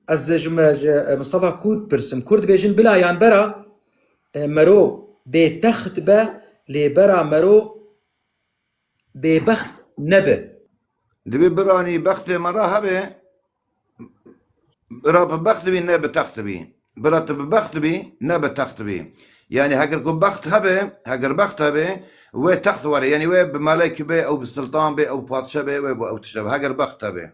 Ez ji Mistefa Kûr dipirsim. Kûr dibêjin bila yan bera mero bê text be lê bera mero bêbext nebe. Divê biranî bextê me re hebe, bira bi bext bî ne bi text bî. Bira tu bi bext bî ne bi text bî. Yanî heger ku bext hebe, heger bext hebe wê text were. Yanî wê bi melek be ew bi siltan be ew bi patişe be wê bi ew tişt be heger bext hebe.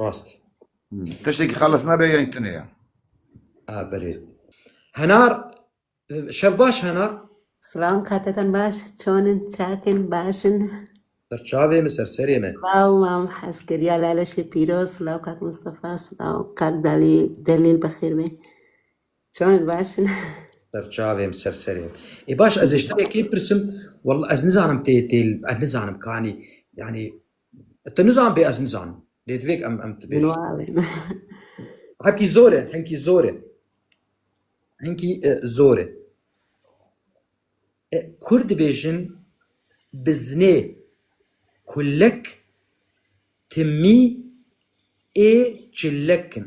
Rast. Tiştekî xeles nebe yayîn tune ye. A berê. Henar şev baş henar. Slam kateten baş çonin çakin başin. Ser çavê mi ser serê mi. Slam mam heskeriya laleşê pîroz slam kak Mustafa slam kak dalî delîl bixêr bê. Çonin başin. Ser çavê mi ser serê mi. E baş ez ê ji te yekê pirsim. Wallah ez nizanim tê tê ez nizanim kanî yani Tu nizan bê ez nizanim. Lê divêk em em tu bêjin. Hepkî zor e, hinkî zor e. Hinkî e, zor e. E, Kurd dibêjin bi zinê kulek timî ê çilek in.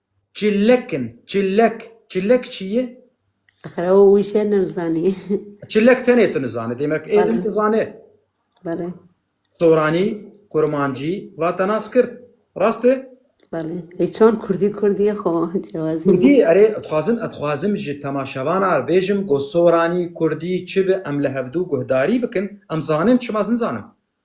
Çillek in, çillek. Çillek çi ye? Axir ew wî şê nimzanî. Çillek tenê tu nizanî. Demek ê din tu zanê. Belê. Soranî, kurmancî, vate nas kir. Rast e? Belê. Ê çan kurdî kurdî xo cewazî. Kurdî erê dixwazim ez dixwazim ji temaşevanan re bêjim ku soranî, kurdî çi bi em li hevdû guhdarî bikin. Em zanin çima ez nizanim.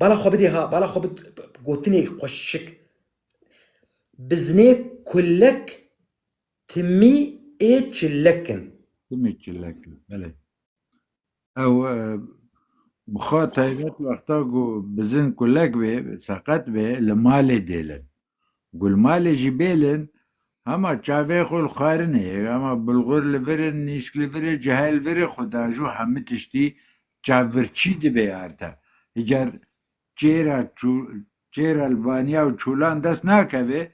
Bala xwe bidê ha, bala xwe bi gotinê xwe şik. Bi zinê kullek timî ê çillek in. Timî çillek in, belê. Ew bixa taybet wexta ku bi zin kullek bê, seqet bê, li malê dêlin. Ku li malê jî bêlin, hema çavê xwe li xwarinê, hema bulgur li vir in, nîşk li vir e, cihê li vir e, xwe diajo hemû tiştî Çavbir çî dibe erte. Hicar çêra çû çêra li vaniya û çûlan dest nakeve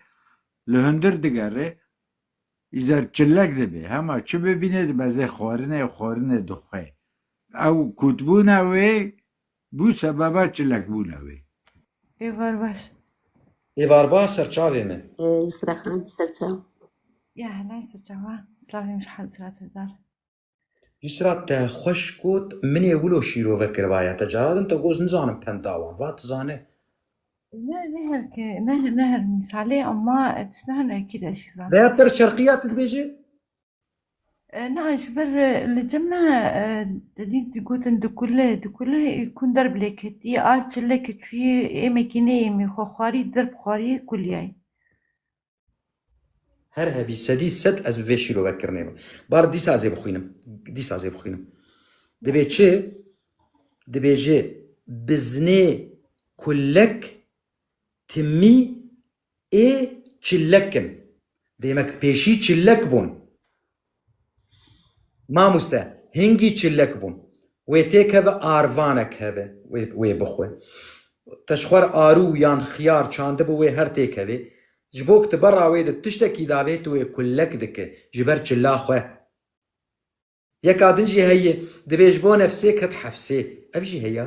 li hundir digere. Îcar çillek dibe. Hema çi bibîne dibeze xwarinê û xwarinê dixwe. Ew kûtbûna wê bû sebeba çillekbûna wê. Êvar baş. Êvar baş serçavê min. Yusra Xan serçav. Ya hela serçav a. Silavê min ji Hezreti Dal. Îsra te xweş got, min ê wilo şîro vekirvaye. Te cara din te goz nizanim penda wan. Va tu zane. Ne ne her ke ne ne her misalê ama tu ne hene ekî de şî zane. Veya per çerqiya tu dibêje? Na ji ber li cem ne dedî digotin dikule dikule kun derb lê ketî a çile ki çûyî êmekî nêêmî xwe xwarî dirb xwarî kuliyayî. Her hebî sedî sed ez bi vê şîro ver kirnê bim. Bar dîsa ez ê bixwînim. Dîsa ez ê bixwînim. Dibê çi? Dibêje biznê kulek timî ê çilek in. Demek pêşî çilek bûn. Mamoste hingî çilek bûn. Wê têkeve arvanek hebe wê bixwe. Te ji xwe re arû yan xiyar çandibû wê her têkevê. Ji bo ku tu bera wê de tiştekî dabê tu wê kulek dike ji ber çila xwe. Yeka din jî heye dibê ji bo nefsê ket hefsê. Ev jî heya